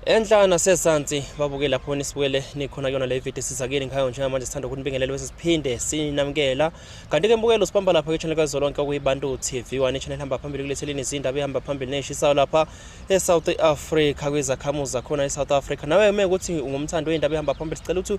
Enhla nasesansi babuke lapho nisibukele nikhona kuyona le video sizakile ngikhayo njengamanje sithanda ukunibingelela bese siphinde sinamukela kanti ke mbukelo sibamba lapha ke channel kazolonke okuyibantu TV one channel hamba phambili kuletheleni izindaba ehamba phambili neshisayo lapha e South Africa kwezakhamuzi zakhona e South Africa nawe uma ukuthi ungumthandi weindaba ehamba phambili sicela ukuthi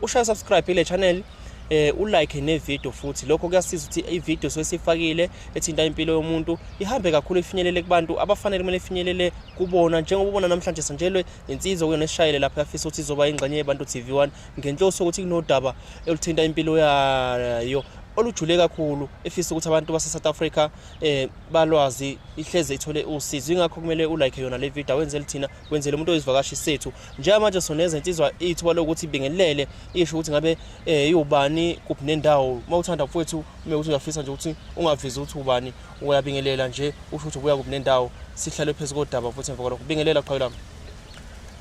ushaye subscribe ile channel eh ulike nevideo futhi lokho kuyasiza ukuthi ivideo sesifakile ethinta impilo yomuntu ihambe kakhulu ifinyelele kubantu abafanele kumele ifinyelele kubona njengoba ubona namhlanje sanjelwe insizwa kuyona esishayele lapho yafisa ukuthi izoba ingxenye yebantu TV1 ngenhloso ukuthi kunodaba eluthinta impilo yayo olujule kakhulu efisa ukuthi abantu base-south africa um balwazi ihleze ithole usizo ingakho kumele ulike yona le video wenzele thina wenzele umuntu oyizivakashi sethu njengamanje soneza insizwa ithuba lokuthi ibingelele isho ukuthi ngabe um iwubani kuphi nendawo uma uthanda mfowethu ume ukuthi uyafisa nje ukuthi ungavezi ukuthi ubani Uyabingelela nje usho ukuthi ubuya kuphi nendawo sihlale phezu kodaba futhi emva kwalokho bingelela qhawe lami.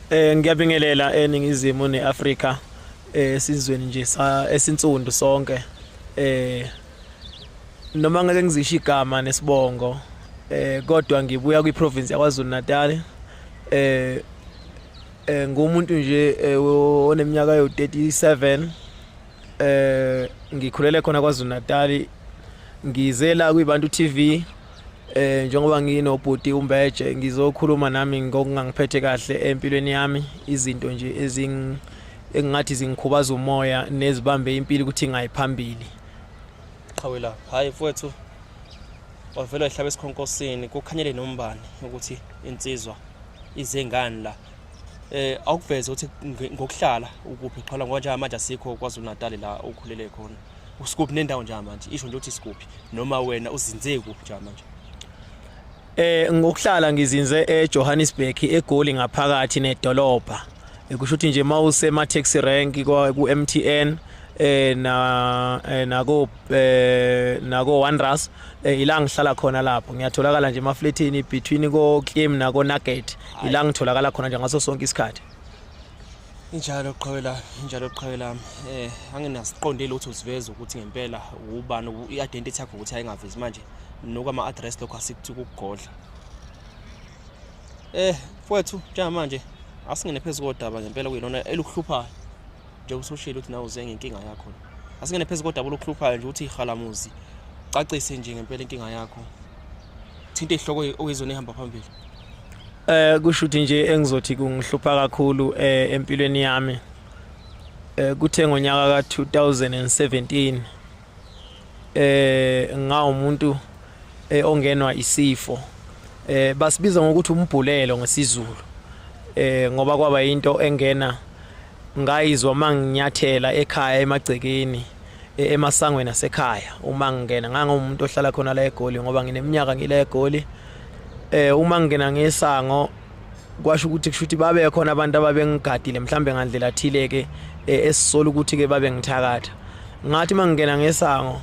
Eh ngiyabingelela eningizimu neAfrika eh sizweni nje sa esinsundu sonke eh noma ngeke ngizisho igama nesibongo eh kodwa ngibuya kwiprovince yaKwaZulu Natal eh eh ngumuntu nje eh, oneminyaka yo 37 eh ngikhulele khona kwaZulu Natal ngize la kwibantu TV eh njengoba nginobhuti umbeje ngizokhuluma nami ngokungangiphethe kahle empilweni yami izinto nje ezing engathi zingikhubaza umoya nezibambe impilo ukuthi ngayiphambili qhawela hayi mfowethu wavela ehlaba esikhonkosini kukhanyele nombani ukuthi insizwa izengani la eh awukuveze ukuthi ngokuhlala ukuphi qhala ngoba nje manje asikho kwaZulu Natal la okhulele khona usikuphi nendawo nje manje isho nje ukuthi sikuphi noma wena uzinze kuphi nje manje eh ngokuhlala ngizinze eJohannesburg eGoli ngaphakathi nedolobha kusho ukuthi nje mawuse ma taxi rank ku MTN eh na eh, nako eh nako Wanderers eh, ila ngihlala khona lapho ngiyatholakala nje emafletini between ko Kim nako Nugget ila ngitholakala khona nje ngaso sonke isikhathi injalo qhawe lami injalo qhawe lami eh anginasiqondile ukuthi usiveza ukuthi ngempela ubani i-identity yakho ukuthi ayingavezi manje nokwama-address lokho asikuthi ukugodla eh mfowethu njengamanje asingene phezu kodaba ngempela kuyilona elukuhluphayo njengoba usushilo ukuthi nawe uze ngenkinga yakho asingene phezu kodaba olukuhluphayo nje ukuthi ihalamuzi cacise nje ngempela inkinga yakho thinte ihloko oyizona ehamba phambili Eh kusho ukuthi nje engizothi kungihlupha kakhulu eh empilweni yami. Eh kuthe ngonyaka ka 2017 eh ngawumuntu eh, ongenwa isifo. Eh basibiza ngokuthi umbhulelo ngesizulu. Eh ngoba kwaba into engena ngayizwa manginyathela ekhaya emagcekeni. e-, emasangweni asekhaya uma ngingena ngangiwumuntu ohlala khona la egoli ngoba ngineminyaka ngila egoli eh uma ngingena ngesango kwasho ukuthi kushuthi babe khona abantu ababengigadile mhlambe ngandlela thile ke eh, esisola ukuthi ke babe ngithakatha ngathi mangingena ngesango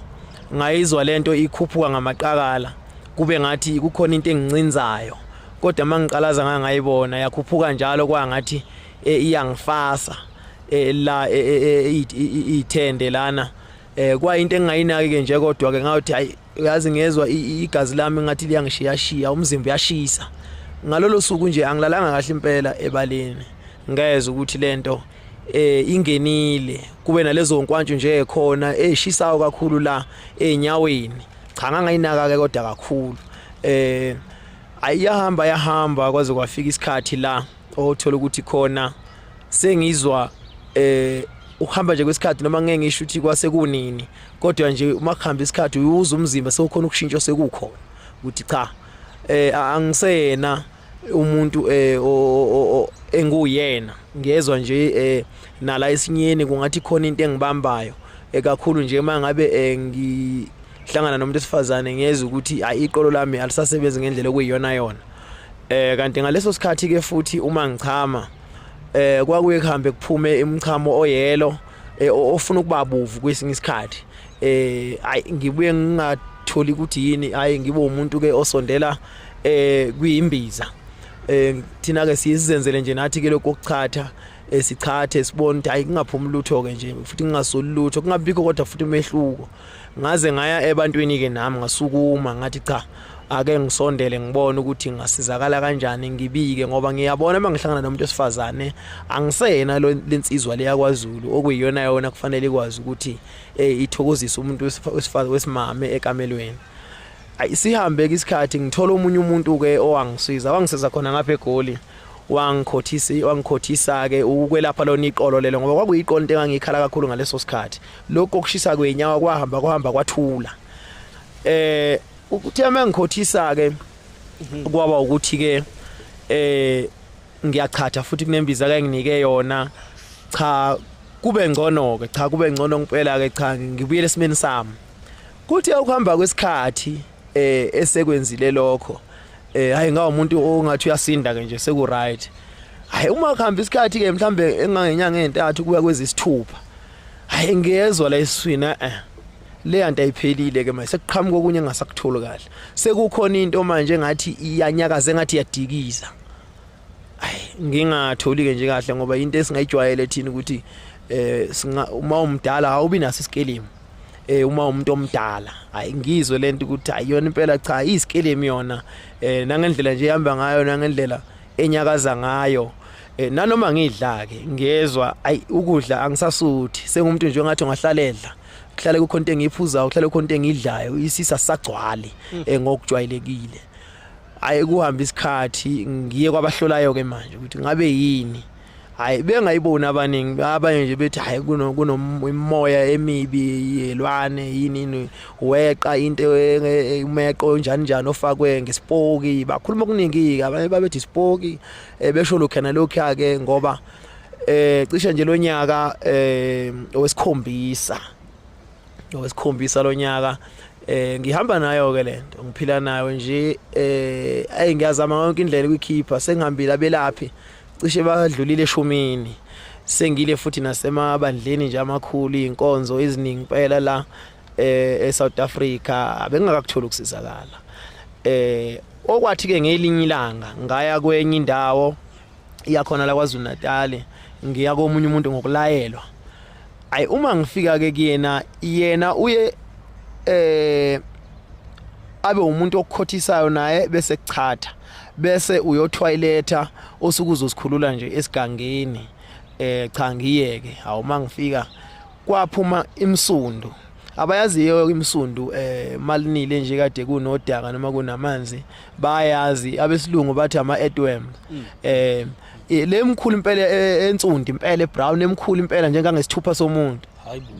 ngayizwa lento ikhuphuka ngamaqakala kube ngathi kukhona into engincinzayo kodwa mangiqalaza ngangayibona yakhuphuka njalo kwangathi eh, iyangifasa eh, la eh, ithende lana eh kwayinto engingayinaki ke nje kodwa ke ngathi hayi uyazi ngezwa igazi lami ngathi liyangishiya shiya umzimba uyashisa ngalolo suku nje angilalanga kahle impela ebaleni ngezwe ukuthi lento eh ingenile kube nalezo nkwantshu nje ekhona eshisayo kakhulu la enyaweni cha ngangayinaka ke kodwa kakhulu eh ayahamba yahamba kwaze kwafika isikhathi la othola ukuthi khona sengizwa eh ukuhamba nje kwesikhathi noma ngeke ngisho ukuthi kwase kunini kodwa nje uma kuhamba isikhathi uyuza umzimba sewukhona ukushintsha osekukhona ukuthi cha eh angisena umuntu eh enguyena ngiyezwa nje eh nala esinyeni kungathi khona into engibambayo ekakhulu nje mangabe eh, ngihlangana nomuntu esifazane ngiyeza ukuthi ayiqolo lami alisasebenzi ngendlela okuyiyona yona eh kanti ngaleso sikhathi ke futhi uma ngichama eh kwakuye kuhambe kuphume imchamo oyelo eh, ofuna ukuba bovu kwesinye isikhathi eh ay ngibuye ngingatholi ukuthi yini ay ngibe umuntu ke osondela eh kuyimbiza eh thina ke siyizenzele nje nathi ke lokho kuchatha esichathe eh, sibone ukuthi hayi kungaphumi lutho ke nje futhi kungasoli lutho kungabikho kodwa futhi umehluko ngaze ngaya ebantwini ke nami ngasukuma ngathi cha ake ngisondele ngibone ukuthi ngasizakala kanjani ngibike ngoba ngiyabona uma ngihlangana nomuntu osifazane angisena lensizwa leya kwaZulu okuyiyona yona kufanele ikwazi ukuthi eh ithokozisa umuntu wesifazane wesimame ekamelweni ayi sihambe ke isikhathi ngithola omunye umuntu ke owangisiza wangisiza khona ngapha egoli wangikhothisa wangikhothisa ke ukwelapha lona iqolo lelo ngoba kwakuyiqolo into engangikhala kakhulu ngaleso sikhathi lokho okushisa kwenyawo kwahamba kwahamba kwathula eh ukuthi amengikhothisa ke mhm. kwaba ukuthi ke eh ngiyachatha futhi kunembiza ke nginike yona cha kube ngcono ke cha kube ngcono ngempela ke cha ngibuyele esimeni sami kuthi ukuhamba kwesikhathi eh esekwenzile lokho eh hayi ngawo umuntu ongathi uyasinda ke nje seku right hayi uma kuhamba isikhathi ke mhlambe engangenyanga entathu kuya kwezisithupha hayi ngiyezwa la iswina eh le yanto ayiphelile ke manje sekuqhamuka okunye engasakutholi kahle sekukhona into manje ngathi iyanyakaza ngathi yadikiza ngingatholi-ke nje kahle ngoba into esingayijwayele thina ukuthi eh singa uma umdala awubi naso isikelemu eh uma umuntu omdala hayi ngizwe lento ukuthi ayiyona impela cha isikelemu yona eh nangendlela nje ihamba ngayo nangendlela enyakaza ngayo eh nanoma ngidla ke ngiyezwa ay ukudla angisasuthi sengumuntu nje ongathi ngahlaledla kuhlale kukho into engiyiphuzayo kuhlale kukho into engidlayo isisa sagcwali mm. eh, ngokujwayelekile hayi kuhamba isikhathi ngiye kwabahlolayo ke manje ukuthi ngabe yini hayi bengayiboni abaningi abanye nje bethi hayi kunomoya emibi yelwane yini weqa into umeqo njani njani ofakwe ngesipoki bakhuluma okuningi abanye babethi isipoki eh, besho lokho na lokho ake ngoba eh cishe nje lonyaka eh owesikhombisa owesikhombisa lonyaka eh ngihamba nayo ke lento ngiphila nayo nje eh ayi ngiyazama yonke indlela ukukhipha sengihambile abelaphi cishe badlulile eshumini sengile futhi nasemabandleni nje amakhulu inkonzo eziningi impela la eh eSouth Africa abengakakutholi ukusizakala eh okwathi ke ngelinye ilanga ngaya kwenye indawo iyakhona la kwaZulu Natal ngiya komunye umuntu ngokulayelwa ayi uma ngifika ke kuyena yena uye eh abe umuntu okukhothisayo naye bese kuchatha bese uyothwayiletha osuke uzosikhulula nje esigangeni eh cha ngiyeke awuma ngifika kwaphuma imsundu abayaziyo imsundu eh malinile nje kade kunodaka noma kunamanzi bayazi abesilungu bathi ama earthworm mm. eh lemkhulu impela e, ensundi impela ebrown emkhulu impela njengangesithupha somuntu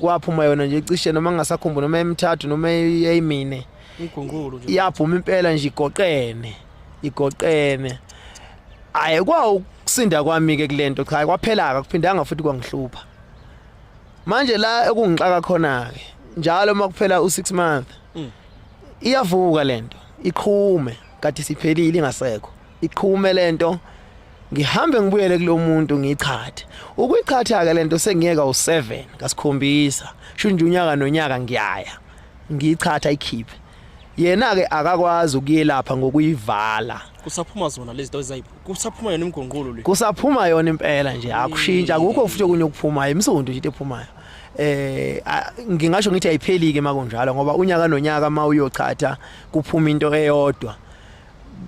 kwaphuma yona nje cishe noma ngingasakhumbula noma emithathu noma eyimine igungulo nje yaphuma impela nje igoqene igoqene ayi kwawo kusinda kwami ke kulento cha kwaphela akakuphindanga futhi kwangihlupha manje la ekungixaka khona ke njalo uma kuphela u6 month mm. iyavuka lento iqhume kade siphelile ingasekho iqhume lento ngihambe ngibuyele kulomuntu ngichathe ukuyichatha ke lento sengiyeka u7 ngasikhombisa shunje unyaka nonyaka ngiyaya ngiyichatha ikhiphe yena ke akakwazi ukuyelapha ngokuyivala kusaphuma zona lezi zinto ezayibo kusaphuma yona imigongqolo le kusaphuma yona impela nje akushintsha akukho futhi okunye okuphumayo imsondo nje ephumayo eh ngingasho ngithi ayiphelike makunjalo ngoba unyaka nonyaka uma uyochatha kuphuma into eyodwa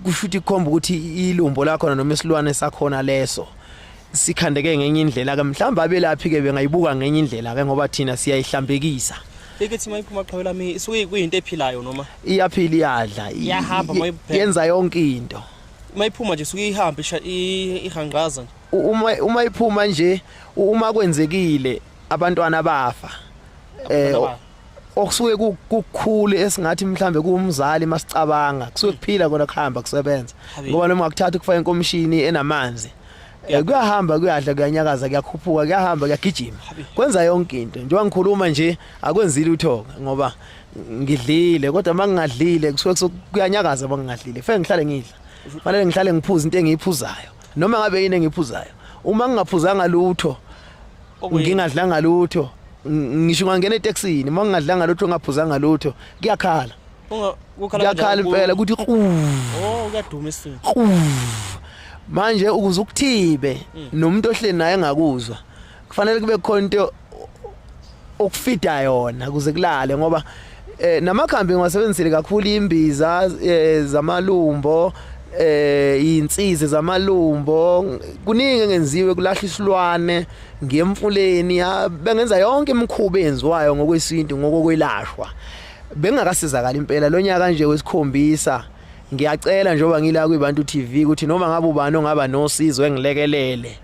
kusho ukuthi kukhomba ukuthi ilumbo lakhona noma isilwane sakhona leso sikhandeke ngenye indlela ke mhlawumbe abelaphi ke bengayibuka ngenye indlela ke ngoba thina siyayihlambekisa ikithi mayiphuma qhawe lami isuke kuyinto ephilayo noma iyaphila iyadla iyahamba mayiphela yenza yonke into mayiphuma nje suke ihamba ihangqaza uma uma iphuma nje uma kwenzekile abantwana bafa eh okusuke kukukhulu esingathi mhlambe kuwumzali masicabanga kusuke kuphila kona kuhamba kusebenza ngoba noma ngakuthatha ukufaka inkomishini enamanzi eh, kuyahamba kuyadla kuyanyakaza kuyakhuphuka kuyahamba kuyagijima kwenza yonke into njengoba ngikhuluma nje akwenzile uthoka ngoba ngidlile kodwa mangingadlile kusuke kuyanyakaza mangingadlile fe ngihlale ngidla fanele ngihlale ngiphuza into engiyiphuzayo noma ngabe yini engiyiphuzayo uma ngingaphuzanga lutho ngingadlanga lutho ngisho ungangena etaxini uma ngingadlanga lutho ngaphuzanga lutho kuyakhala kuyakhala impela ukuthi oh kuyaduma isini manje ukuze ukuthibe mm. nomuntu ohleli naye engakuzwa kufanele kube khona into okufida yona kuze kulale ngoba Eh namakhambi ngiwasebenzisile kakhulu imbiza eh, zamalumbo eh insizi zamalumbo kuningi engenziwe kulahla isilwane ngemfuleni bengenza yonke imikhuba enziwayo ngokwesintu ngokokwelashwa bengakasizakala impela lonyaka nje wesikhombisa ngiyacela njengoba ngila kwibantu TV ukuthi noma ngabe ubani ongaba nosizo engilekelele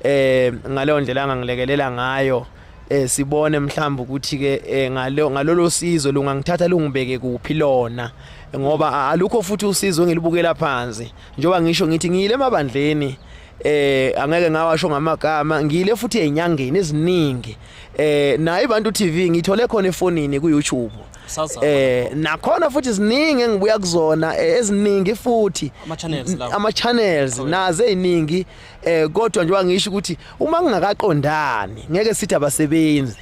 eh ngaleyo ndlela angangilekelela ngayo eh sibone mhlawumbe ukuthi ke eh, ngalo ngalolo sizo lungangithatha lungibeke kuphi lona ngoba alukho futhi usizo engilibukela phansi njoba ngisho ngithi ngiyile emabandleni eh angeke ngawasho ngamagama ngiyile futhi enyangeni eziningi eh naye abantu TV ngithole khona efonini ku YouTube eh nakhona futhi ziningi engibuya kuzona eh, eziningi futhi ama channels naze iningi eh kodwa nje wangisho ukuthi uma ngingakaqondani ngeke sithi abasebenzi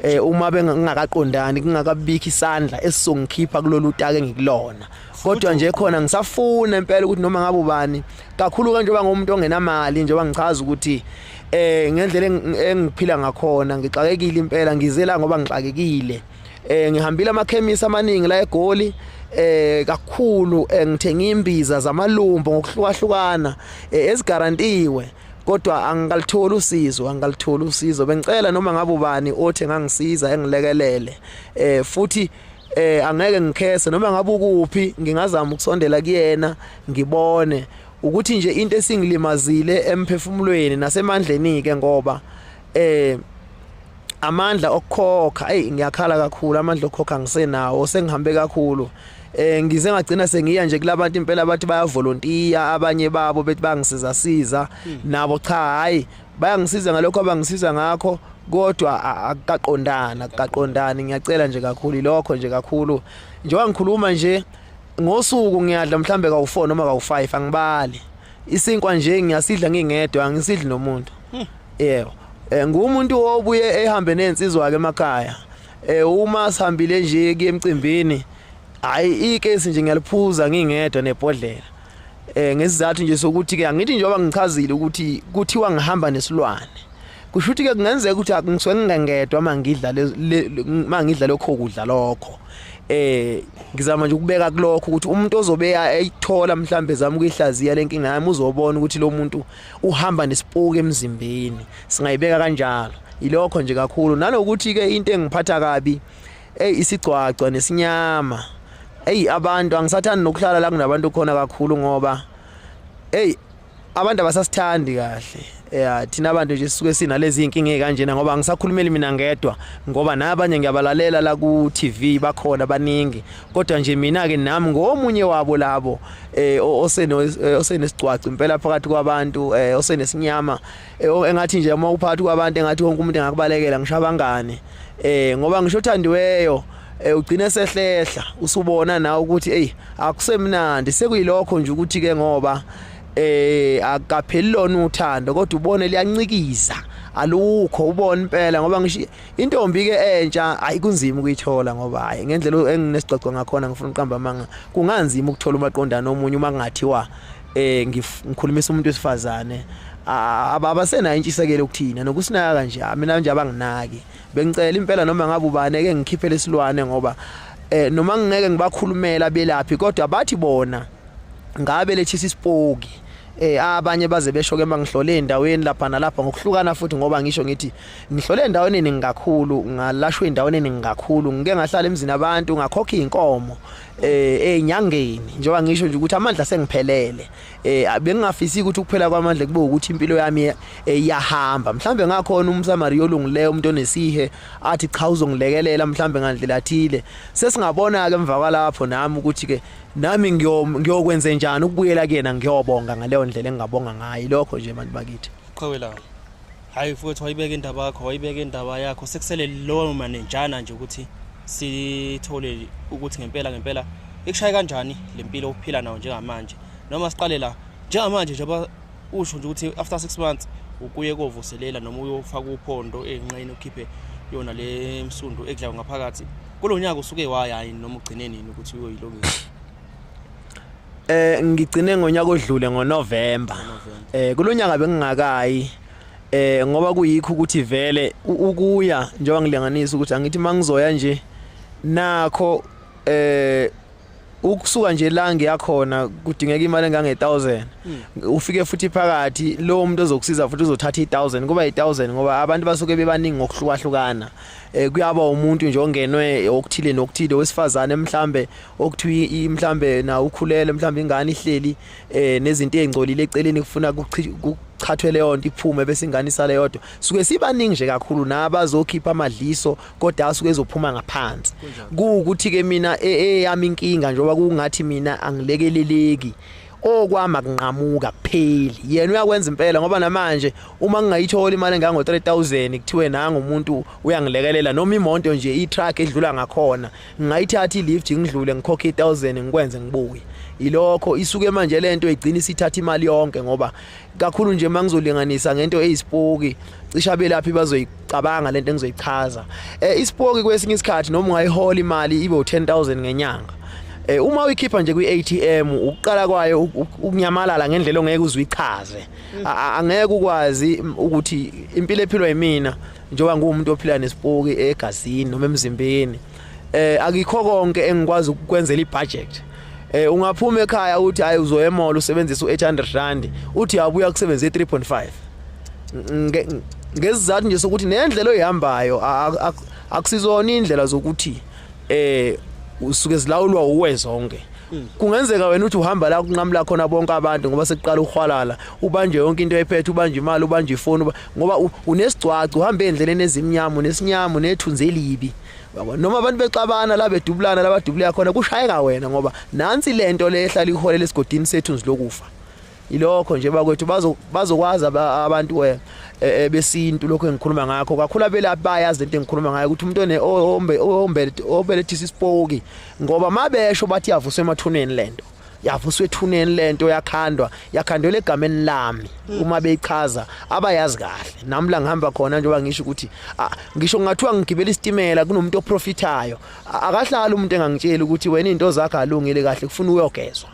eh uma bengingakaqondani kungakabikho isandla esizongikhipha kulolu take ngikulona kodwa nje khona ngisafuna impela ukuthi noma ngabe ubani kakhulu kanje oba ngomuntu ongenamali njengoba ngichaza ukuthi eh ngendlela engiphila ngakhona ngixakekile impela ngizela ngoba ngixakekile eh ngihambile amakhemisi amaningi la eGoli eh kakhulu eh, ngithenga imbiza zamalumbo ngokuhlukahlukana eh, ezigarantiwe kodwa angikalitholi usizo angikalitholi usizo bengicela noma ngabe ubani othi ngangisiza engilekelele eh futhi eh angeke ngikhese noma ngabe ukuphi ngingazama ukusondela kuyena ngibone ukuthi nje into esingilimazile emphefumulweni nasemandleni ke ngoba eh amandla okukhokha hey ngiyakhala kakhulu amandla okukhokha ngisenawo sengihambe kakhulu eh ngize ngagcina sengiya nje kulabantu impela bathi baya volunteer abanye babo bethi bangisiza siza hmm. nabo cha hayi bayangisiza ngalokho abangisiza ngakho kodwa akaqondana akaqondani ngiyacela nje kakhulu ilokho nje kakhulu njengoba ngikhuluma nje ngosuku ngiyadla mhlambe kawu4 noma kawu5 angibali isinkwa nje ngiyasidla ngingedwa angisidli nomuntu hmm. yebo eh, ngumuntu obuye ehambe nensizwa ke emakhaya eh uma sihambile nje kuyemcimbini hayi ikesi nje ngiyaliphuza ngingedwa nebhodlela eh ngesizathu nje sokuthi ke angithi njengoba ngichazile ukuthi kuthiwa ngihamba nesilwane kusho ukuthi ke kungenzeka ukuthi akungisuke ngingengedwa uma ngidla uma ngidla lokho kudla lokho eh ngizama nje ukubeka kulokho ukuthi umuntu ozobe eyithola mhlambe zama ukuyihlaziya lenkinga yami uzobona ukuthi lo muntu uhamba nesipuke emzimbeni singayibeka kanjalo ilokho nje kakhulu nanokuthi ke into engiphatha kabi ey isigcwagcwa nesinyama ey abantu angisathandi nokuhlala la kunabantu khona kakhulu ngoba ey abantu abasasithandi kahle ya eh, thina abantu nje sisuke sinalezi inkinga ezikanjena ngoba angisakhulumeli mina ngedwa ngoba nabanye ngiyabalalela la ku TV bakhona baningi kodwa nje mina ke nami ngomunye wabo labo eh oseno eh, osenesigcwaci impela phakathi kwabantu eh osenesinyama eh, engathi nje uma uphakathi kwabantu engathi wonke umuntu engakubalekela ngisho abangane eh ngoba ngisho othandiweyo eh ugcine sehlehla usubona nawe ukuthi hey akusemnandi sekuyilokho nje ukuthi ke ngoba eh akapheli lona uthando kodwa ubone liyancikiza alukho ubona impela ngoba ngisho intombi ke entsha ayi kunzima ukuyithola ngoba hayi ngendlela enginesixoxo ngakhona ngifuna uqamba amanga kunganzima ukuthola umaqondana omunye uma kungathiwa eh ngikhulumisa umuntu wesifazane abasenayo intshisekelo ukuthina nokusinayo kanje mina nje abanginaki Bengicela impela noma ngabe ubani eke ngikhiphe lesilwane ngoba eh noma ngingeke ngibakhulumela belaphi kodwa bathi bona ngabe lethisa isipoki eh abanye baze besho ke mangihlole endaweni lapha nalapha ngokuhlukana futhi ngoba ngisho ngithi ngihlole endaweni eningi kakhulu ngalashwe endaweni eningi kakhulu ngike ngahlala emzini abantu ngakhokha inkomo eh enyangeni njengoba ngisho nje ukuthi amandla sengiphelele eh bengingafisi ukuthi ukuphela kwamandla kube ukuthi impilo yami eh, iyahamba mhlambe ngakhona umsamariya olungileyo umuntu onesihe athi cha uzongilekelela mhlambe ngandlela thile sesingabona ke emva kwalapho nami ukuthi ke nami ngiyokwenza njani ukubuyela kuyena ngiyobonga ngaleyo ndlela engingabonga ngayo lokho nje abantu bakithi qhawelayo Hayi futhi wayibeka indaba yakho, wayibeka indaba yakho. Sekusele lowo manenjana nje ukuthi sithole ukuthi ngempela ngempela ikushaye kanjani lempilo uphila nayo njengamanje. Noma siqale la njengamanje nje usho nje ukuthi after 6 months ukuye kovuselela noma uyofaka uphondo enqeni ukhiphe yona le msundu ekudlayo ngaphakathi kulonyaka usuke wayayi noma ugcine nini ukuthi uyoyilungisa Eh ngigcine ngonyaka odlule ngoNovember. Eh kulonyaka bengingakayi eh ngoba kuyikho ukuthi vele ukuya njengoba ngilinganisa ukuthi angithi mangizoya nje nakho eh ukusuka nje la ngiyakhona kudingeka imali engange 1000 hmm. ufike futhi phakathi lo muntu ozokusiza futhi uzothatha i 1000 kuba i 1000 ngoba abantu basuke bebaningi ngokuhlukahlukana eh kuyaba umuntu nje ongenwe okuthile nokuthile wesifazane mhlambe okuthiwa mhlambe na ukhulele mhlambe ingane ihleli eh nezinto ezingcolile eceleni kufuna kuchathwe leyo nto iphume bese ingane isale yodwa suke sibaningi nje kakhulu nabazokhipha amadliso kodwa asuke ezophuma ngaphansi kuwukuthi ke mina e, eyami inkinga njengoba kungathi mina angilekeleleki okwami akunqamuka kupheli yena uyakwenza impela ngoba namanje uma ngingayithola imali engango 3000 kuthiwe nanga umuntu uyangilekelela noma imonto nje i-truck edlula ngakhona ngingayithatha i-lift ngidlule ngikhokhe i-1000 ngikwenze ngibuye ilokho isuke manje lento igcina isithatha imali yonke ngoba kakhulu nje uma ngizolinganisa ngento eyisipoki cishe abelaphi bazoyicabanga lento engizoyichaza eh isipoki kwesinye isikhathi noma ungayihola imali ibe u10000 ngenyanga eh uma uyikhipha nje kwiATM ukuqala kwayo ukunyamalala ngendlela ongeke uzwichaze mm. angeke ukwazi ukuthi impilo ephilwa yimina njengoba ngumuntu ophila nesipoki egazini noma emzimbeni eh akikho konke engikwazi ukukwenzela ibudget eh ungaphuma ekhaya uthi hayi uzoya emall usebenzisa u800 rand uthi yabuya kusebenza i3.5 ngezizathu nje sokuthi nendlela oyihambayo akusizona indlela zokuthi eh usuke zilawulwa uwe zonke hmm. kungenzeka wena uthi uhamba la kunqamula khona bonke abantu ngoba sekuqala ukhwalala ubanje yonke into ephethe ubanje imali ubanje ifoni ngoba unesigcwacu uhamba endleleni ezimnyama unesinyama unethunzi elibi yabo noma abantu bexabana la bedubulana la badubuleka khona kushayeka wena ngoba nansi lento le ehlala iholela esigodini sethu nzilokufa ilokho nje bakwethu bazo bazokwazi abantu eh, eh, eh, besintu lokho engikhuluma ngakho kakhulu abelaphi bayazi lento engikhuluma ngayo ukuthi umuntu one ohombe ohombe obelethisa isipoki ngoba mabesho bathi yavuswa emathuneni lento yavuswa ethuneni lento yakhandwa yakhandwela egameni lami mm. uma beyichaza abayazi kahle nami la ngihamba khona njengoba ngisho ukuthi ngisho ngathiwa ngigibela isitimela kunomuntu oprofithayo akahlali umuntu engangitsheli ukuthi wena into zakhe alungile kahle kufuna uyogezwa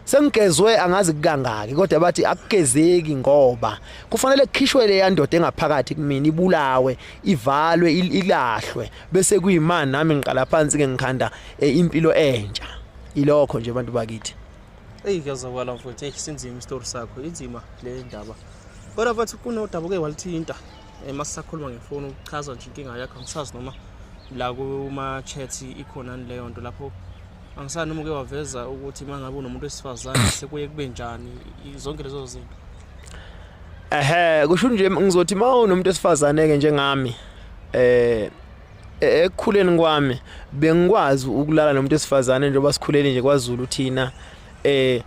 sengigezwe angazi kukangaki kodwa bathi akugezeki ngoba kufanele kukhishwe le yandoda engaphakathi kumina ibulawe ivalwe ilahlwe bese kuyimani nami ngiqala phansi ke ngikhanda eh, impilo entsha ilokho nje abantu bakithi eyi kuyazakala mfowethu eyi sinzima isitori sakho inzima le ndaba kodwa bathi kunodaba uke walithinta um masisakhuluma ngefoni ukuchaza nje inkinga yakho angisazi noma la kuma-chat ikhonani leyo nto lapho angisani noma uke waveza ukuthi uma ngabe unomuntu wesifazane sekuye kube njani zonke lezo zinto ehe kusho nje ngizothi uma unomuntu wesifazane-ke njengami um E, ekukhuleni kwami bengikwazi ukulala nomuntu esifazane njengoba sikhulele nje kwaZulu thina eh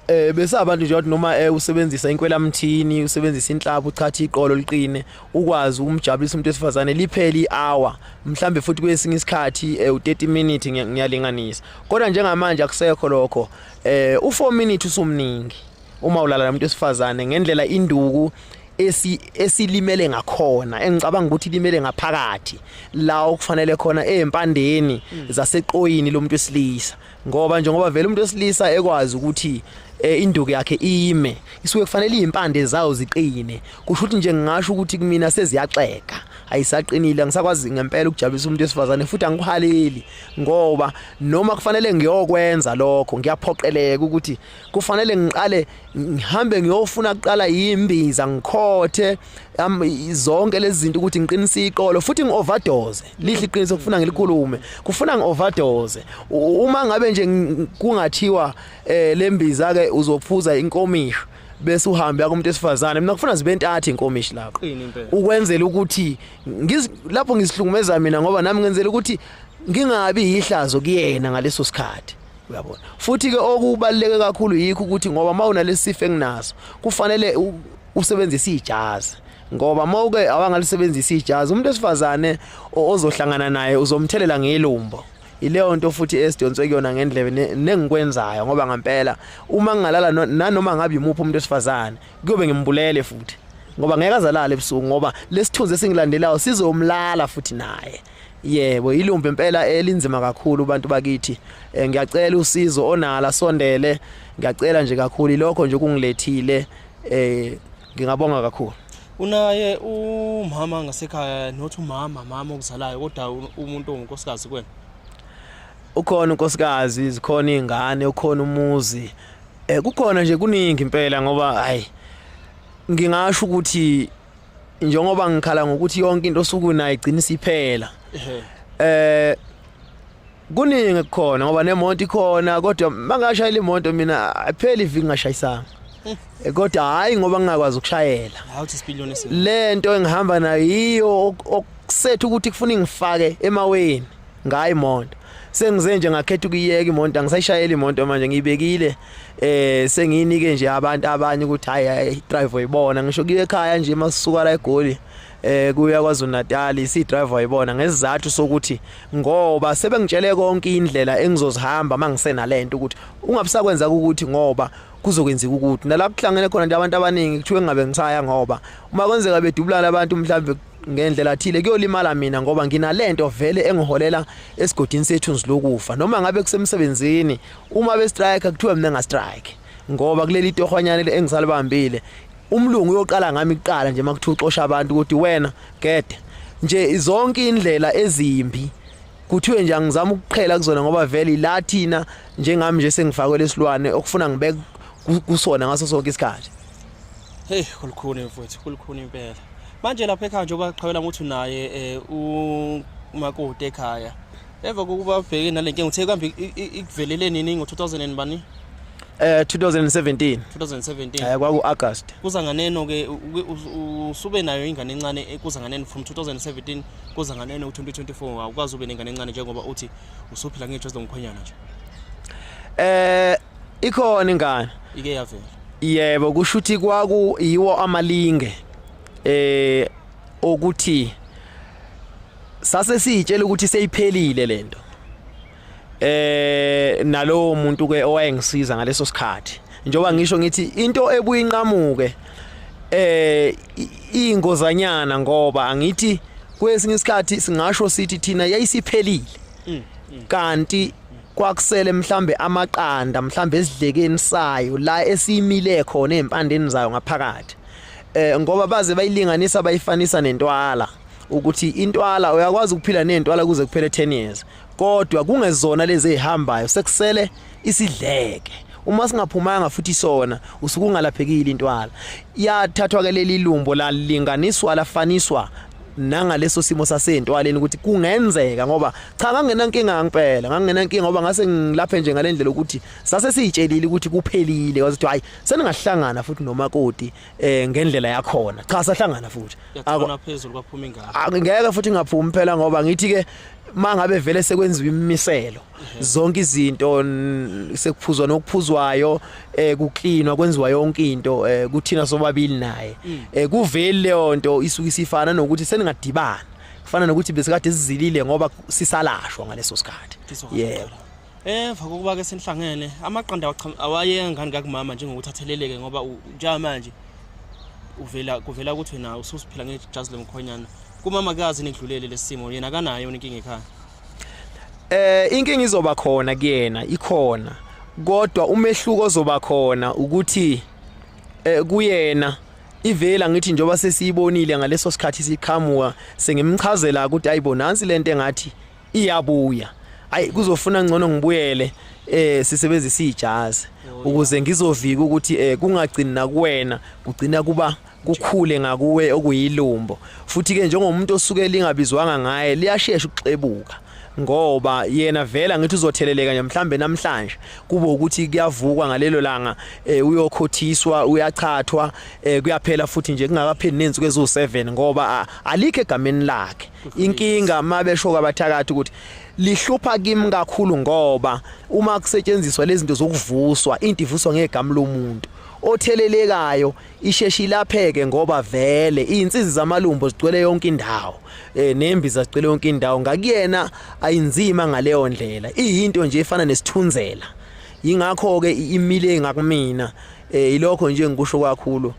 eh bese abantu nje wathi noma eh, usebenzisa inkwelamthini usebenzisa inhlapho uchatha iqolo liqine ukwazi ukumjabulisa umuntu wesifazane lipheli hour mhlambe futhi kwesinye isikhathi eh, u30 minutes ngiyalinganisa kodwa njengamanje akusekho lokho eh u4 minutes usumningi uma ulala nomuntu wesifazane ngendlela induku esi esilimele ngakhona engicabanga ukuthi limele ngaphakathi la okufanele khona ezimpandeni mm. zaseqoyini lomuntu wesilisa ngoba njengoba vele umuntu wesilisa ekwazi ukuthi eh, induku yakhe ime isuke kufanele izimpande zawo ziqine kusho ukuthi nje ngingasho ukuthi kumina seziyaxeka ayisaqinile angisakwazi ngempela ukujabulisa umuntu wesifazane futhi angikuhaleli ngoba noma kufanele ngiyokwenza lokho ngiyaphoqeleka ukuthi kufanele ngiqale ngihambe ngiyofuna kuqala imbiza ngikhothe zonke lezi zinto ukuthi ngiqinise iqolo futhi ngi-overdose lihle iqiniso kufuna ngilikhulume kufuna ngi-overdose uma ngabe nje kungathiwa um eh, le mbiza-ke uzophuza inkomisho bese uhambe yakumuntu esifazane mina kufuna zibe ntathu inkomishi lapho ukwenzela ukuthi lapho ngisihlungumeza mina ngoba nami ngenzela ukuthi ngingabi yihlazo kuyena ngaleso sikhathi uyabona futhi ke okubaleke kakhulu yikho ukuthi ngoba mawunalesifo enginaso kufanele usebenzise ijazi ngoba mawuke awangalisebenzisa ijazi umuntu esifazane ozohlangana naye uzomthelela ngelumbo ileyo nto futhi esidonswe kuyona ngendlebe nengikwenzayo ngoba ngempela uma ngingalala nanoma ngabe yimuphi umuntu esifazane kuyobe ngimbulele futhi ngoba ngeke azalale ebusuku ngoba lesithunzi esingilandelayo sizomlala futhi naye Yebo ilumbe impela elinzima kakhulu abantu bakithi eh, ngiyacela usizo onala sondele ngiyacela nje kakhulu lokho nje kungilethile eh ngingabonga kakhulu unaye umama ngasekhaya not umama mama okuzalayo kodwa umuntu ongunkosikazi kwena ukhona unkosikazi zikhona izingane ukhona umuzi eh kukhona nje kuningi impela ngoba hayi ngingasho ukuthi njengoba ngikhala ngokuthi yonke into osuku nayo igcina isiphela eh kuningi kukhona ngoba nemonto ikhona kodwa mangashayela imonto mina apheli iviki ngashayisanga eh, kodwa hayi ngoba ngingakwazi ukushayela lento engihamba nayo yiyo okusethu ukuthi kufuna ngifake emaweni ngayo imoto sengize nje ngakhetha ukuyeka imoto angisayishayeli imoto manje ngiyibekile eh sengiyinike nje abantu abanye ukuthi hayi drive uyibona ngisho kuye ekhaya nje masuka la egoli eh kuya kwaZulu Natal isi driver yibona ngesizathu sokuthi ngoba sebengitshele konke indlela engizozihamba mangisena lento ukuthi ungabusakwenza ukuthi ngoba kuzokwenzeka ukuthi nalapho kuhlangene khona nje abantu abaningi kuthiwe ngabe ngisaya ngoba uma kwenzeka bedubulana abantu mhlawumbe ngendlela thile kuyolimala mina ngoba nginalento vele engiholela esigodini sethu nzilokufa noma ngabe kusemsebenzini uma be strike kuthiwa mina nga strike ngoba kuleli tohwanyane engisalibambile umlungu uyoqala ngami kuqala nje makuthiwa uxosha abantu ukuthi wena gede nje zonke indlela ezimbi kuthiwe nje angizama ukuqhela kuzona ngoba vele la thina njengami nje sengifakwe lesilwane okufuna ngibeke kusona ngaso sonke isikhathi hey kulukhuni mfowethu kulukhuni impela manje lapha ekhaya njengoba qhawela ukuthi unaye eh, umakoti ekhaya emva kokuba ubheke nale nkinga uthe kambe ikuvelele nini ngo-2000 bani Eh 2017 2017 eh kwaku August kuza nganeno ke usube nayo ingane encane eh, kuza nganeno from 2017 kuza nganeno u2024 awukwazi ube nengane encane njengoba uthi usuphila ngejwazi lomkhwenyana nje eh ikhona ingane ike yavela yebo kusho ukuthi kwaku yiwo amalinge eh okuthi sase sitshela ukuthi seyiphelile lento eh nalowo muntu ke owayengisiza ngaleso sikhathi njoba ngisho ngithi into ebuyinqamuke eh ingozanyana ngoba angithi kwesinye isikhathi singasho sithi thina yayisiphelile mm, mm. kanti kwakusele mhlambe amaqanda mhlambe esidlekeni sayo la esiyimile khona ezimpandeni zayo ngaphakathi eh ngoba baze bayilinganisa bayifanisa nentwala ukuthi intwala uyakwazi ukuphila nentwala kuze kuphele 10 years kodwa kungezona lezi ezihambayo sekusele isidleke uma singaphumanga futhi sona usukungalaphekile intwala yathathwa ke leli lumbo lalinganiswa lafaniswa nangaleso simo sasentwaleni ukuthi kungenzeka ngoba cha ngangenankinga ngempela ngangenankinga ngoba ngase ngilaphe nje ngalendlela ukuthi sase siyitshelile ukuthi kuphelile wazi ukuthi hayi seningahlangana futhi nomakoti eh ngendlela yakhona cha sahlangana futhi akona phezulu kwaphuma ingane ngeke futhi ngaphumi phela ngoba ngithi ke mangabe vele sekwenziwa imimiselo zonke izinto sekuphuzwa nokuphuzwayo eh kuklinwa kwenziwa yonke into eh kuthina sobabili naye mm. eh kuveli leyo nto isuke isifana nokuthi seningadibana kufana nokuthi besikade sizilile ngoba sisalashwa ngaleso sikhathi yebo Emva eh, kokuba ke senihlangene amaqanda awayengani kakumama njengokuthi atheleleke ngoba njenga manje uvela kuvela ukuthi wena ususiphila ngejazi lomkhonyana kumama kazi nidlulele lesimo yena kanayo inkinga ekhaya Eh inkinga izoba khona kuyena ikhona kodwa umehluko ozoba khona ukuthi eh kuyena ivela ngithi njoba sesiyibonile ngaleso sikhathi siqhamuka sengimchazela ukuthi ayibo nansi lento engathi iyabuya ayi kuzofuna ngcono ngibuyele eh sisebenzisa ijazi ukuze ngizovika ukuthi eh kungagcini nakuwena kugcina kuba kukhule ngakuwe okuyilumbo futhi ke njengomuntu osuke lingabizwanga ngaye liyashesha ukuxebuka ngoba yena vela ngithi uzotheleleka nje mhlambe namhlanje kube ukuthi kuyavukwa ngalelo langa eh, uyokhothiswa uyachathwa eh, kuyaphela futhi nje kungakapheli nensuku eziwu7 ngoba alikho egameni lakhe inkinga mabesho kwabathakathi ukuthi lihlupha kimi kakhulu ngoba uma kusetshenziswa lezinto zokuvuswa into ivuswa ngegama lomuntu othelelekayo isheshe ilapheke ngoba vele izinsizi zamalumbo zigcwele yonke indawo eh nembi zazigcwele yonke indawo ngakuyena ayinzima ngaleyo ndlela iyinto nje efana nesithunzela yingakho ke imile ngakumina eh ilokho nje ngikusho kakhulu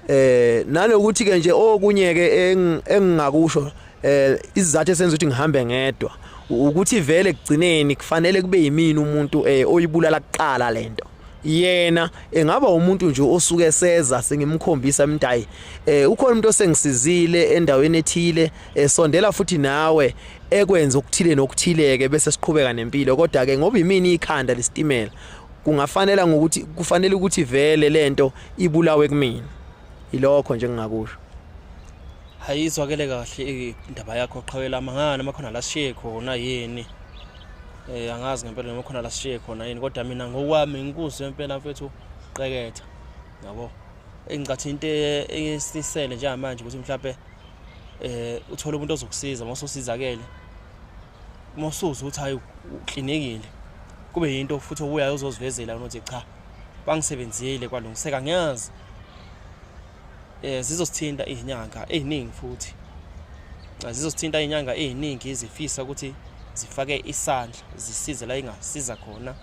eh nalokuthi ke nje okunye ke engingakusho eh izizathu esenza ukuthi ngihambe ngedwa ukuthi vele kugcineni kufanele kube yimini umuntu eh oyibulala kuqala lento yena engaba umuntu nje osuke seza sengimkhombisa mntayi eh ukhona umuntu osengisizile endaweni ethile esondela eh, futhi nawe ekwenza okuthile nokuthileke bese siqhubeka nempilo kodwa ke ngoba imini ikhanda lesitimela kungafanela ngokuthi kufanele ukuthi vele lento ibulawe kumina ilokho nje ngingakusho hayizwakele kahle indaba yakho qhawela mangana makhona la siye khona yini Eh angazi ngempela noma khona la sishiye khona yini kodwa mina ngokwami ngikuzwe impela mfethu qeketha. Yabo. Engicathi into e-, esisele njengamanje ukuthi mhlawumbe eh uthole umuntu ozokusiza uma usosizakele. Uma usuza ukuthi hayi uklinekile. Kube yinto futhi obuyayo uzozivezela ukuthi cha bangisebenzile kwalungiseka ngiyazi eh zizosithinta izinyanga eziningi futhi zizosithinta izinyanga eziningi izifisa ukuthi zifake isandla zisize la ingasiza khona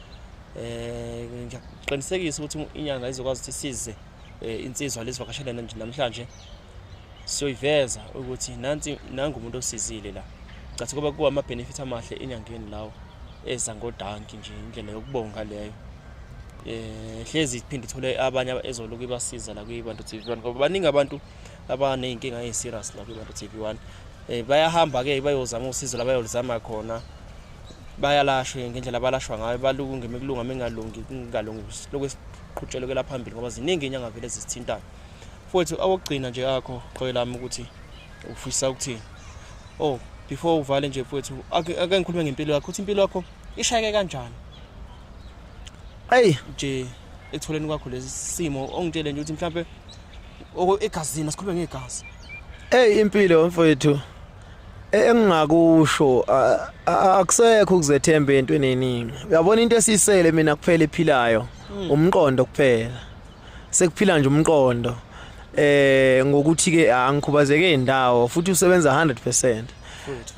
eh ngiyakuqinisekisa ukuthi inyanga izokwazi ukuthi size eh, insizwa lezivakashele namhlanje siyoyiveza ukuthi nansi nangu umuntu osizile la cathi kuba kuwa ama benefit amahle enyangeni lawo eza ngodanki nje indlela yokubonga leyo eh hlezi iphinde ithole abanye ezoloku ibasiza la kwibantu TV1 ngoba baningi abantu abanezinkinga eziserious la kwibantu TV1 eh bayahamba ke bayozama usizo labayolizama khona bayalashwe ngendlela balashwa ngayo balunge mekulunga mengalungi kungalungi lokwesiqhutshelekela phambili ngoba ziningi inyanga vele zisithintayo futhi awokugcina nje akho qhoyi lami ukuthi ufisa ukuthi oh before uvale nje futhi ake ngikhulume ngempilo yakho ukuthi impilo yakho ishayeke kanjani Hey nje ekutholeni kwakho lesi simo ongitshele nje ukuthi mhlambe egazini asikhuluma ngegazi. Hey impilo mfowethu e-, engingakusho akusekho ukuzethemba entweni eningi. Uyabona into esisele mina kuphela ephilayo hmm. umqondo kuphela. sekuphila nje umqondo eh ngokuthi ke angikhubazeke indawo futhi usebenza 100%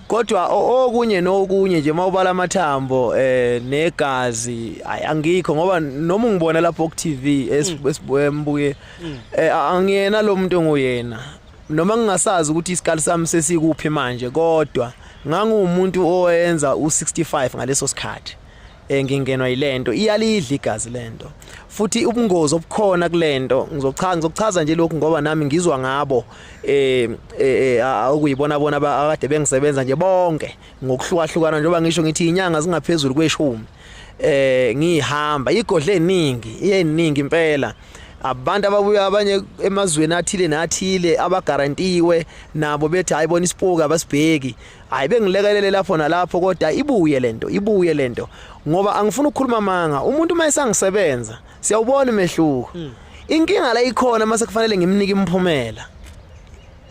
kodwa okunye nokunye nje mawubala amathambo eh negazi angikho ngoba noma ungibona lapho ku TV esibuye mm. mm. eh, angiyena lo muntu nguyena noma ngingasazi ukuthi isikali sami sesikuphi manje kodwa ngangumuntu owenza u65 ngaleso sikhathi eh ngingenwa yilento iyalidla igazi lento futhi ubungozi obukhona kulento ngizochaza ngizochaza nje lokhu ngoba nami ngizwa ngabo eh, eh, eh okuyibona bona akade bengisebenza nje bonke ngokuhlukahlukana njengoba ngisho ngithi inyanga zingaphezulu kweshumi eh ngihamba igodle eningi iyeningi impela abantu ababuya abanye emazweni athile nathile abagarantiwe nabo bethi hayi bona isipoki abasibheki hayi bengilekelele lapho nalapho kodwa ibuye lento ibuye lento ngoba angifuni ukukhuluma manga umuntu uma esangisebenza siyawubona umehluko hmm. inkinga la ikhona mase kufanele ngimnike imphumela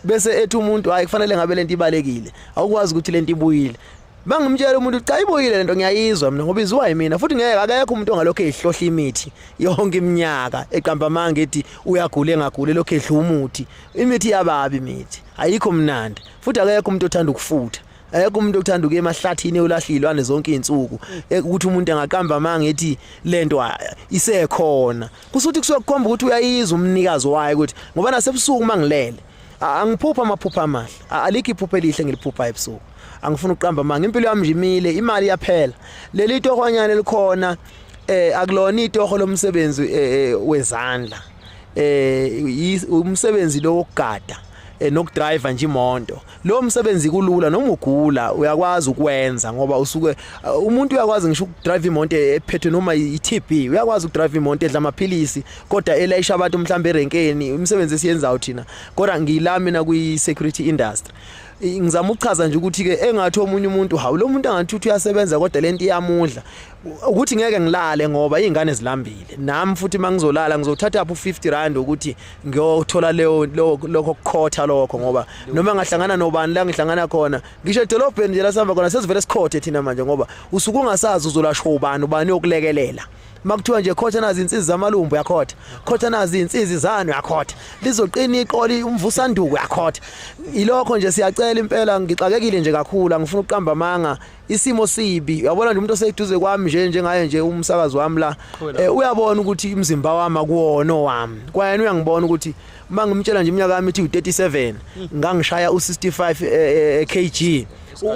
bese ethi umuntu hayi kufanele ngabe lento ibalekile awukwazi ukuthi lento ibuyile bangimtshela umuntu cha ibuyile lento ngiyayizwa mina ngoba iziwa yimina futhi ngeke akekho umuntu ongalokho ehlohla imithi yonke iminyaka eqamba amanga ethi uyagula engagule lokho edla umuthi imithi yababi imithi ayikho mnandi futhi akekho umuntu othanda ukufutha ayekho umuntu okuthanda ukuya emahlathini eyolahlilwane zonke izinsuku eh, ukuthi umuntu angaqamba amanga ethi lento ah, isekhona kusuthi kusokukhomba ukuthi uyayiza umnikazi wayo ukuthi ngoba nasebusuku mangilele angiphupha amaphupha amahle alikho iphupha elihle ngiliphupha ebusuku angifuni ukuqamba amanga impilo yami njimile imali yaphela leli tohwanyana elikhona eh akulona itoho lomsebenzi eh, eh, wezandla eh umsebenzi lo wokugada eh, nokudriver nje imoto lo msebenzi kulula noma ugula uyakwazi ukwenza ngoba usuke eh, umuntu uyakwazi ngisho ukudrive imoto ephethwe noma iTB uyakwazi ukudrive imoto edla amaphilisi kodwa elayisha abantu mhlawumbe erenkeni umsebenzi esiyenzayo thina kodwa ngila mina kwi security industry ngizama ukuchaza nje ukuthi ke engathi omunye umuntu hawu lo muntu angathi uthi uyasebenza kodwa lento iyamudla ukuthi ngeke ngilale ngoba izingane zilambile nami futhi mangizolala ngizothatha apho 50 rand ukuthi ngiyothola leyo lokho kukhotha lokho ngoba noma ngahlangana nobani la ngihlangana khona ngisho edolobheni nje lasihamba khona sesivele sikhothe thina manje ngoba usuku ungasazi uzolashwa ubani ubani yokulekelela makuthiwa nje khotha nazi insizi zamalumbu uyakhotha khotha nazi insizi zanu uyakhotha lizoqina iqoli umvusanduku uyakhotha ilokho nje siyacela impela ngixakekile nje kakhulu angifuni ukuqamba amanga isimo sibi uyabona nje umuntu oseduze kwami nje njengaye nje umsakazi wami la eh, uyabona ukuthi umzimba wami akuwona owami kwayena uyangibona ukuthi uma ngimtshela nje iminyaka yami ithi u37 hmm. ngangishaya u65 eh, eh, kg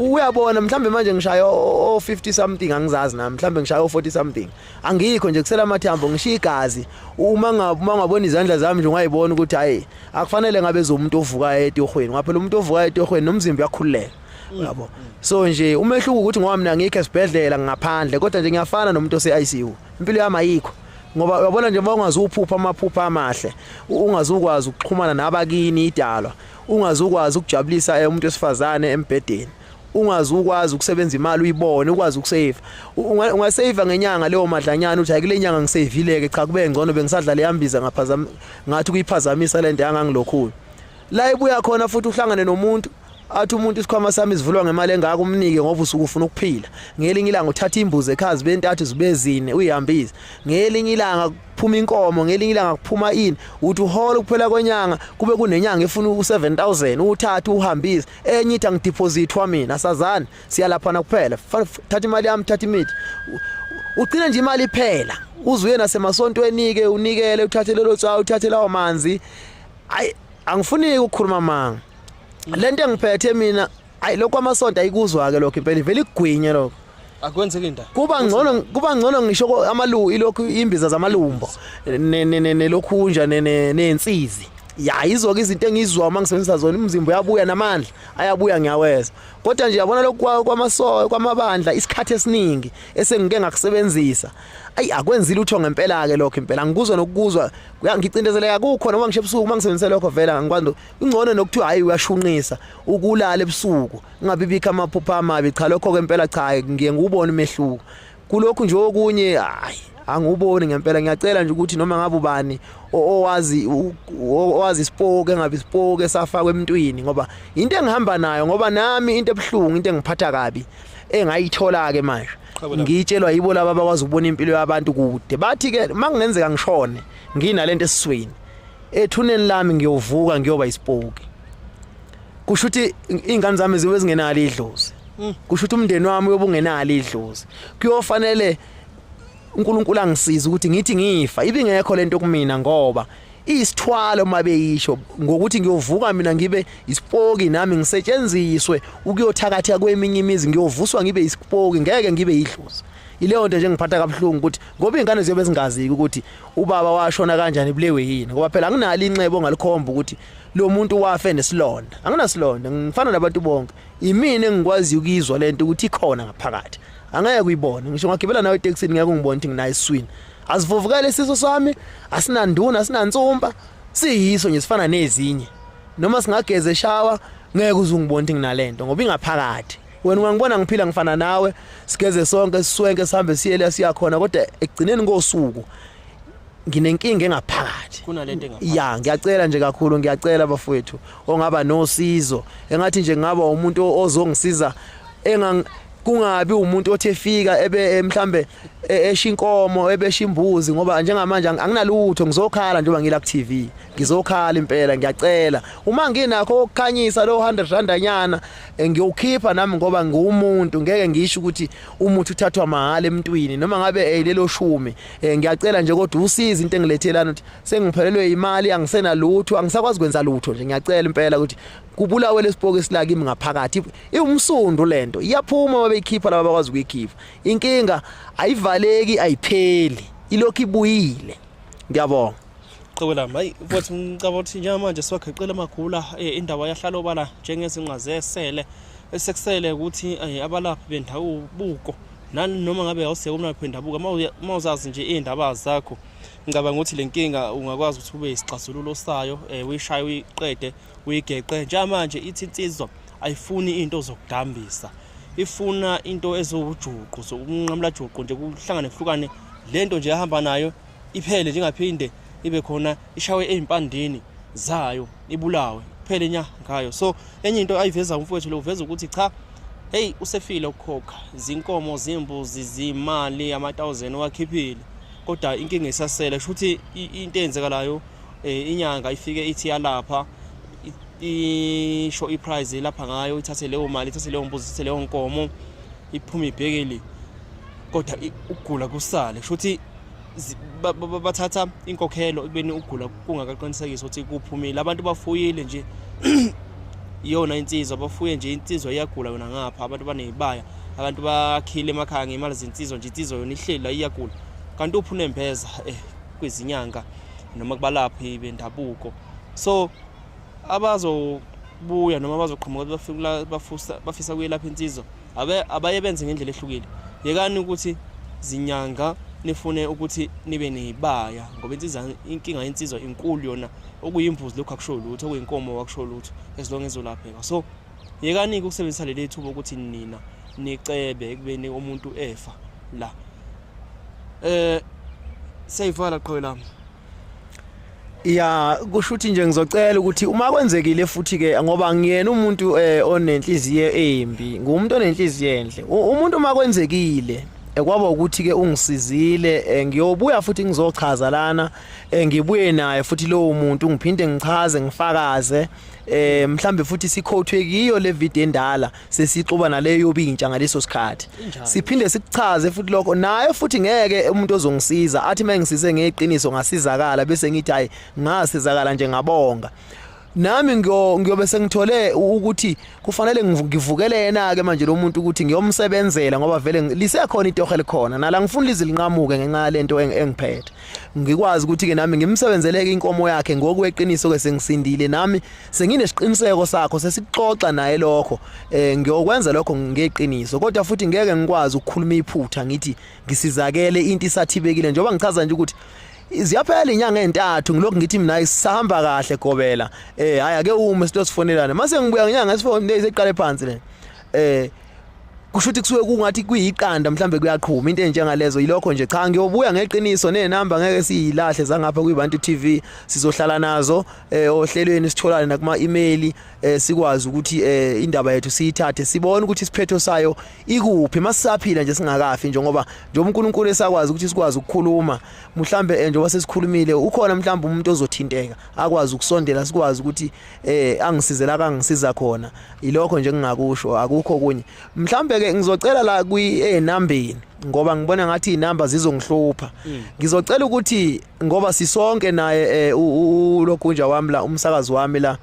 uyabona mhlambe manje ngishaya o 50 something angizazi nami mhlambe ngishaya o 40 something angikho nje kusela amathambo ngishiya igazi uma ngabuma ngabona izandla zami nje ungayibona ukuthi hayi akufanele ngabe zomuntu ovuka etohweni ngaphela umuntu ovuka etohweni nomzimba uyakhululeka Mm. Uyabo. So nje umehluko ukuthi ngoba mina ngikho esibhedlela ngaphandle kodwa nje ngiyafana nomuntu ose ICU. Impilo yami ayikho. Ngoba uyabona nje uma ungazuphupha amaphupha amahle, ungazukwazi ukuxhumana nabakini idalwa, ungazukwazi ukujabulisa eh, umuntu wesifazane embhedeni. ungazi ukwazi ukusebenza imali uyibone ukwazi ukusave ungasave ngenyanga leyo madlanyana uthi ayikule nyanga ngisavile ke cha kube ngcono bengisadlala yambiza ngaphazama ngathi kuyiphazamisa lento yangangilokhulu la ibuya khona futhi uhlangane nomuntu athi umuntu isikhwama sami sivulwa ngemali engaka umnike ngoba usuku ufuna ukuphila ngelinye ilanga uthatha imbuzi ekhazi bentathu zibezine uyihambise ngelinye ilanga kuphuma inkomo ngelinye ilanga kuphuma ini uthi uhola ukuphela kwenyanga kube kunenyanga efuna u7000 uthatha uhambise enye ithi angideposithwa mina sazani siyalaphana kuphela thatha imali yami thatha imithi ugcina nje imali iphela uzuye nasemasontweni ke unikele uthathe lelo tsawu uthathe lawo manzi hayi angifuni ukukhuluma amanga lento engiphethe mina hayi lokho amasonto ayikuzwa ke lokho impela ivele igwinye lokho akwenzeki into kuba ngcono kuba ngcono ngisho amalu ilokhu imbiza zamalumbo nelokhunja nensizi ya izoke izinto engizwa uma ngisebenzisa zona umzimba uyabuya namandla ayabuya ngiyaweza kodwa nje yabona lokhu kwamasoka kwamabandla isikhathi esiningi esengike ngakusebenzisa ayi akwenzi lutho ngempela ke lokho impela ngikuzwa nokukuzwa kuyangicindezeleka kukho noma ngisho ebusuku mangisebenzisa lokho vela ngikwanto ungcono nokuthiwa hayi uyashunqisa ukulala ebusuku ngabibikho amaphupha amabi cha lokho ke impela cha ngiye ngubone umehluko kulokhu nje okunye hayi anguboni ngempela ngiyacela nje ukuthi noma ngabe ubani owazi owazi isipoke engabe isipoke safakwe emntwini ngoba into engihamba nayo ngoba nami into ebuhlungu into engiphatha kabi engayithola ke manje ngitshelwa yibo laba abakwazi ukubona impilo yabantu kude bathi ke makungenzeka ngishone nginalento esiswini ethuneni lami ngiyovuka ngiyoba isipoki kusho ukuthi ingane zami zibe zingenalo idlozi mm. kusho ukuthi umndeni wami uyobungenalo idlozi kuyofanele uNkulunkulu angisize ukuthi ngithi ngifa ibingekho lento kumina ngoba iyisithwalo uma beyisho ngokuthi ngiyovuka mina ngibe isipoki nami ngisetshenziswe ukuyothakatha kweminye imizi ngiyovuswa ngibe isipoki ngeke ngibe yidlozi ileyo nto nje ngiphatha kabuhlungu ukuthi ngoba iy'ngane ziyobe zingaziki ukuthi ubaba washona kanjani bulewe yini ngoba phela anginalo inxebo ongalikhomba ukuthi lo muntu wafe nesilonda anginasilonda ngifana nabantu bonke imina engikwaziyo ukuyizwa le nto ukuthi ikhona ngaphakathi angeke uyibone ngisho ngagibela nawe etekisini ngeke ungibone ukuthi nginayo iswini Asivuvukele isiso sami, asinanduna, asinansumpa, siyiso nje sifana nezinye. Noma singageze shawa ngeke uzungibona ukuthi nginalento ngoba ingaphakathi. Wena ungangibona ngiphila ngifana nawe, sigeze sonke siswenke sihambe siye la siya khona kodwa ekugcineni kosuku nginenkinga engaphakathi kunalento engaphakathi ya ngiyacela nje kakhulu ngiyacela bafowethu ongaba nosizo engathi nje ngaba umuntu ozongisiza engang kungabi umuntu othi efika ebe eh, mhlambe e-, esha inkomo ebesha imbuzi ngoba njengamanje anginalutho ngizokhala njengoba ngila ku TV ngizokhala impela ngiyacela uma nginakho ukukhanyisa lo 100 rand anyana eh, ngiyokhipha nami ngoba ngiwumuntu ngeke ngisho ukuthi umuthi uthathwa mahala emntwini noma ngabe eh, lelo shumi eh, ngiyacela nje kodwa usiza into engilethelana ukuthi sengiphelelwe imali angisena lutho angisakwazi kwenza lutho nje ngiyacela impela ukuthi kubulawe lesipoke silakimi ngaphakathi iwumsundu lento iyaphuma babeyikhipha laba bakwazi ukuyikhipha inkinga ayivaleki ayipheli ilokhu ibuyile ngiyabonga qhoko lami hayi futhi ngicabanga ukuthi njengamanje siwageqile amagula eh, indawo yahlala obala njengezinqa zesele esekusele ukuthi eh, abalaphi bendabuko nani noma ngabe awuseke umlaphi wendabuko uma uzazi nje iy'ndaba zakho ngicabanga ukuthi le nkinga ungakwazi ukuthi ube yisixazululo sayo um uyishaye uyiqede uyigeqe njengamanje ithi insizwa ayifuni into zokudambisa ifuna into eziwujuqu sokunqamula juqu nje kuhlangane kuhlukane lento nje ehamba nayo iphele njengaphinde ibe khona ishawe ezimpandini zayo ibulawe kuphele nya ngayo so enye into ayiveza umfowethu lo uveza ukuthi cha hey usefile ukukhokha zinkomo zimbuzi zimali ama 1000 wakhiphile kodwa inkinga isasele shuthi into eyenzekalayo eh, inyanga ifike ithi yalapha isho iprice lapha ngayo ithathe leyo mali ithathe leyo mbuzi ithathe leyo nkomo iphume ibhekeli kodwa ukugula kusale kusho ukuthi bathatha inkokhelo ekubeni ukugula kungakaqinisekisa ukuthi kuphumile abantu bafuyile nje iyona insizwa bafuye nje insizwa iyagula yona ngapha abantu banezibaya abantu bakhile emakhaya ngemali zensizwa nje insizwa yona ihlela iyagula kanti uphu nembeza eh kwezinyanga noma kubalaphi bendabuko so abazobuya noma abazoqhamuka bafisa kuyelapha insizwa abaye benze ngendlela ehlukile yekani ukuthi zinyanga nifune ukuthi nibe neyibaya ngoba insizwa inkinga yensizwa inkulu yona okuyimbuzi lokho akusho lutho okuyinkomo akusho lutho as long ezolapheka so Yekani-ke ukusebenzisa leli thuba ukuthi nina nicebe ekubeni umuntu efa la eh seyivala qhoyi lami ya kusho ukuthi nje ngizocela ukuthi uma kwenzekile futhi ke ngoba ngiyena umuntu eh, onenhliziyo embi ngumuntu onenhliziyo enhle umuntu uma kwenzekile eh, kwaba ukuthi ke ungisizile eh, ngiyobuya futhi ngizochaza lana ngibuye naye futhi lowo muntu ngiphinde ngichaze ngifakaze eh mhlambe futhi sikhothwe kiyo le video endala sesixuba naleyo yobintsha ngaleso sikhathi siphinde sikuchaze futhi lokho naye futhi ngeke umuntu ozongisiza athi mengisize ngeqiniso ngasizakala bese ngithi hayi ngasizakala nje ngabonga nami ngiyobe sengithole ukuthi kufanele ngivukele yena ke manje lo muntu ukuthi ngiyomsebenzela ngoba vele lisekhona itohe likhona nala ngifuna lizilinqamuke ngenxa yalento engiphethe ngikwazi ukuthi ke nami ngimsebenzeleke inkomo yakhe ngokweqiniso ke sengisindile nami senginesiqiniseko sakho sesixoxa naye lokho eh ngiyokwenza lokho ngeqiniso kodwa futhi ngeke ngikwazi ukukhuluma iphutha ngithi ngisizakele into isathibekile njengoba ngichaza nje ukuthi ziyaphela inyanga entathu ngilokhu ngithi mina isihamba kahle gobela eh hayi ake ume sitosifonelana mase ngibuya ngenyanga esifonele seqale phansi le eh kusho ukuthi kusuke kungathi kuyiqanda mhlambe kuyaqhuma into enjengalezo yilokho nje cha ngiyobuya ngeqiniso nenamba ngeke siyilahle zangapha kuyibantu TV sizohlala nazo eh, ohlelweni sitholane nakuma email eh, sikwazi ukuthi eh, indaba yethu siyithathe sibone ukuthi isiphetho sayo ikuphi masisaphila nje singakafi njengoba nje uNkulunkulu esakwazi ukuthi sikwazi ukukhuluma mhlambe njengoba sesikhulumile ukhona mhlambe umuntu ozothinteka akwazi ukusondela sikwazi ukuthi eh angisize la kangisiza khona ilokho nje ngingakusho akukho kunye mhlambe ke ngizocela la kwi enambeni ngoba ngibona ngathi izinamba zizongihlupha mm. ngizocela ukuthi ngoba sisonke naye eh, ulogunja wami la umsakazi wami la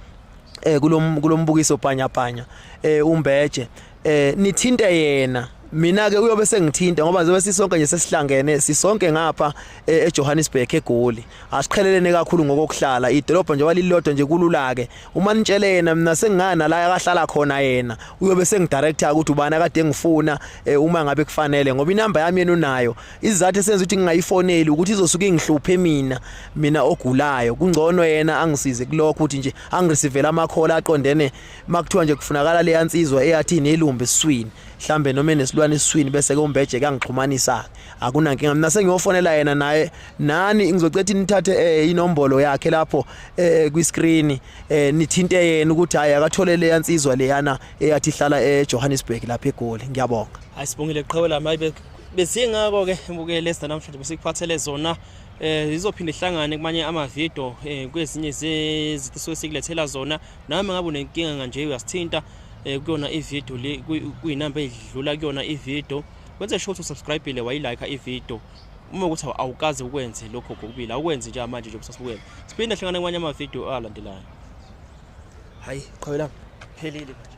eh kulombukiso panya panya eh umbeje eh nithinte yena mina ke uyobe sengithinta ngoba njengoba sisonke nje sesihlangene sisonke ngapha e, eJohannesburg eGoli asiqhelelene kakhulu ngokokuhlala idolobha nje walilodwa nje kulula ke uma nitshele yena mina sengingana la akahlala khona yena uyobe sengidirector ukuthi ubani akade ngifuna e, uma ngabe kufanele ngoba inamba yami yena unayo izizathu esenza ukuthi ngingayifoneli ukuthi izosuke ingihluphe mina mina ogulayo kungcono yena angisize kulokho ukuthi nje angireceive ama call aqondene makuthiwa nje kufunakala leya nsizwa eyathi nelumbe esiswini mhlambe noma enesilwane esiswini bese ke umbeje kangixhumanisa akunankinga mina sengiyofonela yena naye nani ngizocetha nithathe eh, inombolo yakhe lapho eh, kwi screen eh, nithinte yena ukuthi hayi akathole leya nsizwa leyana eyathi hlala eJohannesburg lapha eGoli ngiyabonga ayisibongile qhawe lami ayibe besingako ke mbukele sida namhlanje besikuphathele zona eh izophinde ihlangane kumanye ama video eh kwezinye zezithiso esikulethela zona nami ngabe unenkinga kanje uyasithinta eh, kuyona ivideo le kuyinamba edlula kuyona ivideo wenze sure ukuthi usubscribile wayilike ivideo uma ukuthi awukaze ukwenze lokho kokubili awukwenzi nje manje nje kusasukela siphinde hlangane kwanye amavideo alandelayo hayi qhawela phelile manje